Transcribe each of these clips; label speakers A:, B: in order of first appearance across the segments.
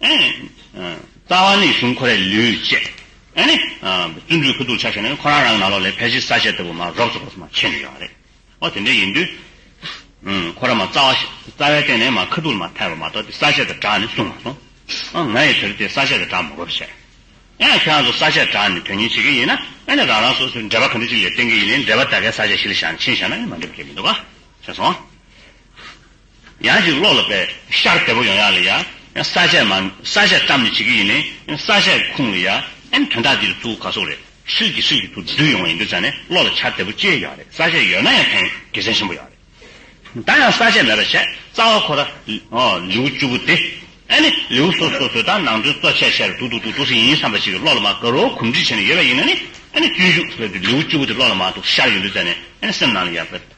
A: རྩ་བ་ནི་གཞུང་ཁོ་རའི་ལུས་བཅད། བརྩོན་འགྲུས་ཁུ་བསྡུ་ཆ་བྱས་ནས་ཁོ་རང་རང་ནང་ལོགས་ལས་ཕལ་ཆེར་ས་དཔྱད་ལྟ་བུ་མ་རོགས་ཚོགས་པ་སོགས་མ་ཕྱེ་ནས་ཡོང་བ་རེད། ཨོ་དེ་འདྲ་ཡིན་དུས། ཁོ་ར་མ་རྩ་བ་རྩ་བའི་སྟེང་ནས་མ་ཁུ་བསྡུ་ལ་མ་ཕེབས་པ་མ་གཏོགས་དེ་ས་དཔྱད་དུ་གྲགས་ནས་གསུང་མ་སོང། ང་ཡི་དོར་དེ་ས་དཔྱད་དུ་གྲགས་མ་དགོས་པ་བྱས། ཁྱེད་རང་ཚོ་ས་དཔྱད་གྲགས་ནས་དོན་གཉེར་བྱེད་མཁན་ཡིན་ན་རང་རང་སོ་སོའི་འགྲེལ་པ་ག་འདྲ་ཅིག་ལས་བསྟན་གྱི་ཡིན་ནའི་འགྲེལ་པ་དག་གས་ས་དཔྱད་གཞི་ལ་བཞག་ནས་ཕྱིན་བཞག་ན་མ་འགྲིག་པ་ཁྱེད་མི་འདུག་ག། ཤེས་སོང། ཡང་ཅིག་ཀློག་ལ་དཔེ། ཤར་དལ་བུ་ཡང་ཡག་ལ་ཡ། ས་བཅད་མ། ས་བཅད་བཀྲམ་ནས་བྱེད་ཀྱི་ཡིན། ས་བཅད་ཁུངས་ལ་ཡ། ཨེམ་དོན་དག་འདིར་བཙུགས་ག་སོགས་རེད། ཧྲིལ་གྱིས་ཧྲིལ་གྱིས་ཚུར་བསྡུས་ཡོང་བ་ཡིན་དུས་ཆ་ནས་ཀློག་ལ་ཆ་དལ་བུ་སྐྱེས་ཡག་རེད་ས་བཅད་ཡོད་ན་ཡང་ཐེངས་དགེ་མཚན་ཆེན་པོ་ཡག་རེད། ད་ཡང་ས་བཅད་མེད་པ་བྱས་རྩ་བ་ཁོ་ར། ལེའུ་བཅུ་བོ་དེ། ཨེ་ནི་ལེའུ་སོ་སོ་བཟོས་དང་ནང་དོན་གཙོ་ཆེར་བྱས་ར་འདུག་འདུག་འདུག་འདུག་སེ་ཡིན་བསམ་པ་ཞིག་གིས་ཀློག་ལ་མ་དགའ་རོགས་གོམས་འདྲིས་བྱས་ནས་ཡོད་པ་ཡིན་ན་ནི། ཨེ་ནི་སྤྱོད་འཇུག་ཟེར་དུས་ལེའུ་བཅུ་བོ་དེ་ཀློག་ལ་མ་འདུག་ཤར་ཡོང་དུས་ཆ་ནས་ཨེ་ནི་སེམས་ནང་ལ་ཡ།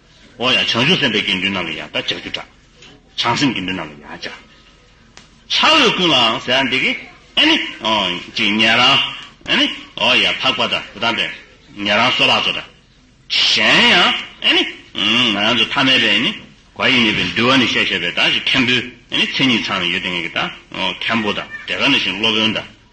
A: འོ་ཡང་བྱང་ཆུབ་སེམས་དཔའི་དགེ་འདུན་རྣམས་ལ་ཡང་དག་བྱ་རྒྱུ་དགྲ། བྱང་སེམས་དགེ་འདུན་རྣམས་ལ་ཡང་བྱ། ཕྱག་འོས་ཀུན་ལའང་ཟས་འདི་གི། ཨཱ་ནི། ཅིག་ཉན་རང། ཨཱ་ནི། འོ་ཡང་འཕགས་པ་དང་དེ་དག་འདྲ། ཉན་རང་སོགས་ལགས་སོ་འདྲ། གཞན་ཡང། ཨཱ་ནི། ང་རང་ཚོ་ཐ་མལ་པའི་ནི། བ་ཡིས་ནི་པའི་འདུལ་བ་ནི་བཤད་བཤད་པའི་དག་ཅིག་མཁན་པོའི། ཨཱ་ནི་མཚན་ཉིད་ཚང་ནི་ཡོད་དེ་ངེས་ཀྱི་དག། མཁན་པོ་དང་དེ་ག་ནི་བཞིན་སློབ་དཔོན་དང།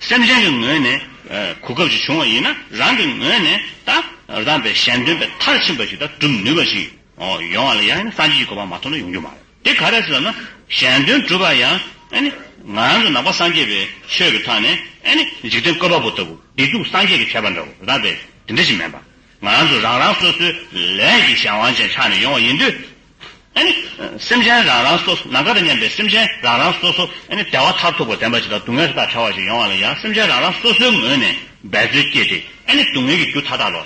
A: སེམས་ཅན་གྱི་ངོས་ནས་གོ་སྐབས་ཅིག་བྱུང་བ་ཡིན་ན་རང་གི་ངོས་ནས་དང་རྡ་པའི་ཞལ་འདོན་པའི་མཐར་ཕྱིན་པ་ཞིག་དང་གྲུབ་ནུས་པ་ཞིག་ཡོང་བ་ལ་ཡང་ནི་སངས་རྒྱས་ཀྱི་གོ་འཕང་མ་ཐོབ་ན་ཡོང་རྒྱུ་མ་རེད་དེ་ག་རེ་ཟེར་ན་ཞལ་འདོན་གྲུབ་པ་ཡང་ནི་ང་རང་ཚོ་ནང་པ་སངས་རྒྱས་པའི་ཆོས་ཀྱི་ཐང་ནས་ནི་འཇིག་རྟེན་བཀོད་པ་པོ་ལྟ་བུ་བདེ་སྡུག་སངས་རྒྱས་ཀྱིས་བྱས་པ་འདྲ་བོ་རྡ་པས་དེ་འདྲ་ཞིག་མིན་པར་ང་རང་ཚོ་རང་རང་སོ་སོའི་ལས་ཀྱི་གཞན་དབང་ཅན་ཆགས་ནས་ཡོང་བ་ཡིན་དུས་སེམས་ཅན་རང་རང་སོ་སོ་ན་ག་ཏུ་མཉམ་པའི་སེམས་ཅན་རང་རང་སོ་སོ་བདེ་བ་མཐར་ཐུག་པར་ལྡན་པ་ཞིག་དང་སྡུག་བསྔལ་དག་བྲལ་བ་ཞིག་ཡོང་བ་ལ་ཡང་སེམས་ཅན་རང་རང་སོ་སོའི་ངོས་ནས་འབད་རྩོལ་བསྐྱེད་དེ། སྡུག་བསྔལ་གྱི་རྒྱུ་མཐའ་དག་ལ་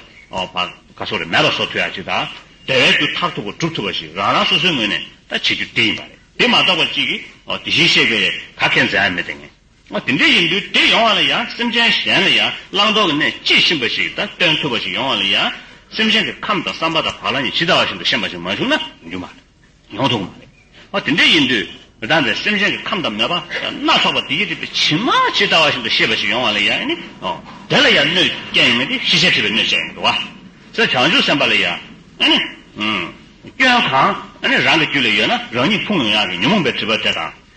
A: བར་ག་སོགས་རེ་མེད་པ་སོགས་དུས་ཡ་གཅིག་དང། བདེ་བའི་རྒྱུ་མཐར་ཐུག་པར་གྲུབ་ཐུབ་པ་ཞིག་རང་རང་སོ་སོའི་ངོས་ནས་བྱེད་རྒྱུ་དེ་ཡིན་པ་རེད། དེ་མ་གཏོགས་པ་གཅིག་གིས་དེ་བཞིན་གཤེགས་པས་ག་གེ་མཛད་ཡ་མེད་དེ་ངས། ང་དེ་འདྲ་ཡིན་དུས་དེ་ཡོང་བ་ལ་ཡང་སེམས་ཅན་གཞན་ལ་ཡང་བླང་དོར་གྱི་གནས་ཅི་བཞིན་པ་ཞིག་དང་སྟོན་ཐུབ་པ་ཞིག་ཡོང་བ་ལ་ཡང་སེམས་ཅན་གྱི་ཁམས་དང་བསམ་པ་དང་བག་ལ་ཉལ་ཇི་ལྟ་བ་བཞིན་དུ་ཤེས་པ་ཞིག་མ་བྱུང་ན་འགྱུར་མ་རེད། ཡོང་ཐུབ་གི་མ་རེད། ང་དེ་འདྲ་ཡིན་དུས་མི་དང་པའི་སེམས་ཅན་གྱི་ཁམས་དང་མོས་པ་སྣ་ཚོགས་པ་བདེ་སྐྱིད་སྒྲིབ་པའི་བྱིན་མ་ཇི་ལྟ་བ་བཞིན་དུ་ཤེས་པ་ཞིག་ཡོང་བ་ལ་ཡང་ནི་དེ་ལ་ཡང་གནོད་སྐྱེལ་ཡོང་མེད་དེ་ཤེས་བྱ་ཁྲིད་པའི་གནོད་བྱེད་ཡིན་དུ་བ། སེམས་བྱང་ཆུབ་སེམས་དཔའ་ལ་ཡང་ནི། སྐྱོན་གང་ནི་རང་གི་རྒྱུད་ལ་ཡོད་ན་རང་ཉིད་ཕུང་ཡོང་ཡང་རེད་ཉོན་མོངས་པའི་དྲི་བ་དེ་དང་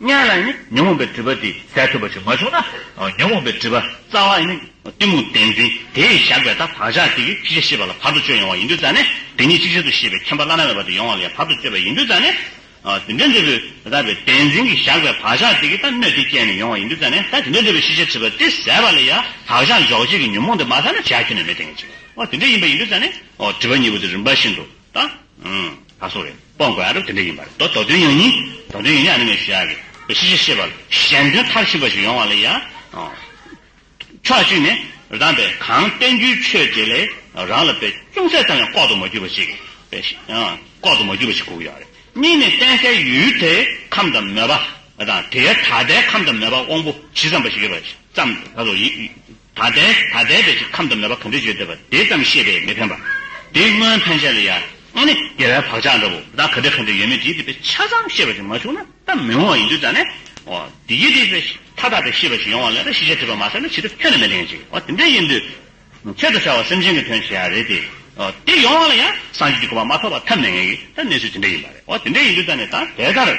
A: ལྔ་ལ་ནི་ཉོན་མོངས་པའི་སྒྲིབ་པ་དེ་ཟད་ཐུབ་པ་ཞིག་མ་བྱུང་ན། ཉོན་མོངས་པའི་སྒྲིབ་པ་རྩ་བ་ནི་གཏི་མུག་བདེན་འཛིན་དེས་བཞག་པའི་ད་བག་ཆགས་དེ་ཡི་ཅི་བྱ་ཤེས་པ་ལ་བར་དུ་གཅོད་ཡོང་བ་ཡིན་དུས་རྩ་ནི་དེ་ཉིད་ཅིག་ཆར་དུ་ཤེས་པའི་ཁྱད་པར་བླ་ན་མེད་པ་དེ་ཡོང་བ་ལ་ཡང་བར་དུ་གཅོད་པ་ཡིན་དུས་རྩ་ནི། དེ་འདྲའི་འབྲས་བུ་ད་བའི་བདེན་འཛིན་གྱིས་བཞག་པའི་བག་ཆགས་དེ་གི་ད་སྣོད་དེ་བསྐྱེད་ནས་ཡོང་བ་ཡིན་དུས་རྩ་ནི་ད་དེ་འདྲའི་འབྲས་བུ་ཤེས་བྱ་དྲིས་པ་དེ་ཟད་པ་ལ་ཡང་བག་ཆགས་འཇོག་བྱེད་ཀྱི་ཉོན་མོངས་དེ་མ་ཟད་ན་བྱ་ཁྱོན་ནས་མི་འཐེན་གྱི་ཅིག་དེ་འདྲ་ཡིན་པ་ཡིན་དུས་རྩ་ནི། དྲིས་པ་གཉིས་པོ་དེ་རིམ་པ་བཞིན་དུ་དང། ད་སོགས་རེད། སྤོང་དགོས་ཨ་རབ་དེ་འདྲ་ཡིན་པ་རེད་དོ་དོ་དོན་ཡང་ཡིན། དོ་དོན་ཡང་ཡང་ནི་མེད་ཞེས་ཡག་གི། གཞི་ཆེ་ཤེས་པ་ལ་གཞན་དོན་མཐར་ཕྱིན་པ་ཞིག་ཡོང་བ་ལ་ཡང། ཕྱོགས་གཅིག་ནས་རང་པས་གང་བསྟན་རྒྱུའི་ཆོས་དེ་ལས་རང་ལ་པས་ཅུང་ཟད་ཙམ་ཡང་ལྐོག་ཏུ་མ་གྱུར་པ་ཞིག། ལྐོག་ཏུ་མ་གྱུར་པ་ཞིག་དགོས་ཀྱི་ཡོད་རེད། གཉིས་ནས་བསྟན་སའི་ཡུལ་དེའི་ཁམས་དང་མོས་པ་དང་དེའི་ད་ལྟའི་ཁམས་དང་མོས་པ་དབང་པོ་ཇི་ཙམ་པ་ཞིག་ཡོད་པ་ཙམ་ད་སོགས་ཡིན། ད་ལྟའི་ད་ལྟའི་བོད་ཀྱི་ཁམས་དུ་མེད་པ་ག་འདྲས་བརྗོད་འདོད་པ་དེ་ཙམ་ཤེས་པས་མི་ཕན་པ། དེ་སྔོན་ཕན་ཆད་ལ་ཡ་ཨ་ནི་རྒྱལ་བའི་བག་ཆགས་འདྲ་བོ་ད་ག་འདྲས་ག་འདྲས་ཡོད་མེད་དེའི་སྡིག་པའི་ཆ་ཙམ་ཤེས་པ་ཞིག་མ་བྱུང་ན་ད་མི་འོང་བ་ཡིན་དུས་ད་ནས་འོ་དེ་ཡི་སྡིག་པའི་མཐའ་དག་པའི་ཤེས་པ་ཞིག་ཡོང་བ་ལས་ད་ཤེས་བྱ་ཐོས་པ་མ་ཟད་ན་ཕྱི་དྲོ་ཁྱོད་ནི་མི་ལེན་ཅིག་འོ་དེ་འདྲས་ཡིན་དུས་ཁྱོད་དུ་ཤར་བ་སེམས་ཅན་གྱི་དོན་བྱེད་ཡ་རེད་དེ་འོ་དེ་ཡོང་བ་ལ་ཡང་སངས་རྒྱས་ཀྱི་གོ་བ་མ་ཐོབ་པ་ཐབས་མེད་ངེས་ཀྱི་ད་གནས་ཚུལ་དེ་འདྲས་ཡིན་པ་རེད་འོ་དེ་འདྲས་ཡིན་དུས་ད་ནས་ད་དེ་ལྟར།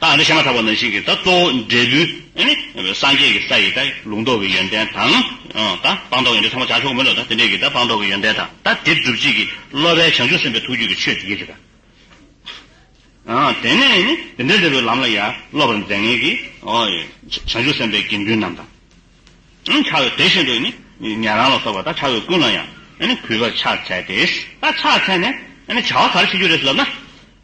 A: རྟགས་འདི་བཤད་མ་ཐག་པ་ན་ཞིག་གིས་ད་གཙོ་བོ་འབྲས་བུའི། སངས་རྒྱས་ཀྱི་ས་ཡིས་ད་ལུང་རྟོགས་ཀྱི་ཡོན་ཏན་དང། ད་སྤངས་རྟོགས་ཡོན་ཏན་ཚང་མ་བྱང་ཆུབ་གོ་མི་ལོ་ད་དེ་འདྲས་ཀྱིས་ད་སྤངས་རྟོགས་ཀྱི་ཡོན་ཏན་དང་ད་དེ་སྒྲུབ་བྱེད་ཀྱི་སློབ་པའི་བྱང་ཆུབ་སེམས་དཔའི་ཐུགས་རྒྱུད་ཀྱི་ཆོས་ཡིན་གྱི་ད། དེ་ནས་ནི་དེ་འདྲ་འདྲ་བའི་ལམ་ལ་ཡང་སློབ་པར་མཛད་ངེས་ཀྱི། བྱང་ཆུབ་སེམས་དཔའི་དགེ་འདུན་རྣམས་དང། ཕྱག་དེ་བཞིན་དུ་ནི་ཉན་རང་ལ་སོགས་པ་ད་ཕྱག་བའི་ཀུན་ལ་ཡང་གུས་པར་ཕྱག་འཚལ་ཏེ། ད་ཕྱག་འཚལ་ནས་བྱ་བ་ག་རེ་བྱེད་རྒྱུ་རེད་ལབ་ན།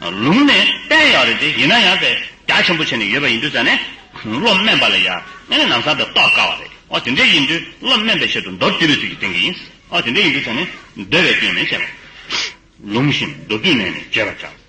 A: ལུང་ནི་དཔེ་ཡག་རེད་དེ་ཡིན་ན་ཡང་དེ་རྒྱ་ཆེན་པོ་བྱས་ནས་ཡོད་པ་ཡིན་དུས་ཙང་ནས་བློ་དམན་པ་ལ་ཡ་ང་ནས་ནམ་སང་དེ་རྟོགས་དཀའ་བ་རེད་ཨོ་དེ་འདྲས་ཡིན་དུས་བློ་དམན་པའི་ཆེད་དུ་མདོར་བསྡུས་པའི་ཚུལ་གྱིས་བསྟན་གྱི་ཡིན་ཨོ་དེ་འདྲས་ཡིན་དུས་ཙང་ནས་འདོད་པའི་སྐྱོན་མེད་བྱས་པ་ལུང་བཞིན་མདོར་བསྡུས་ནས་ནས་བརྗོད་པར་བྱ།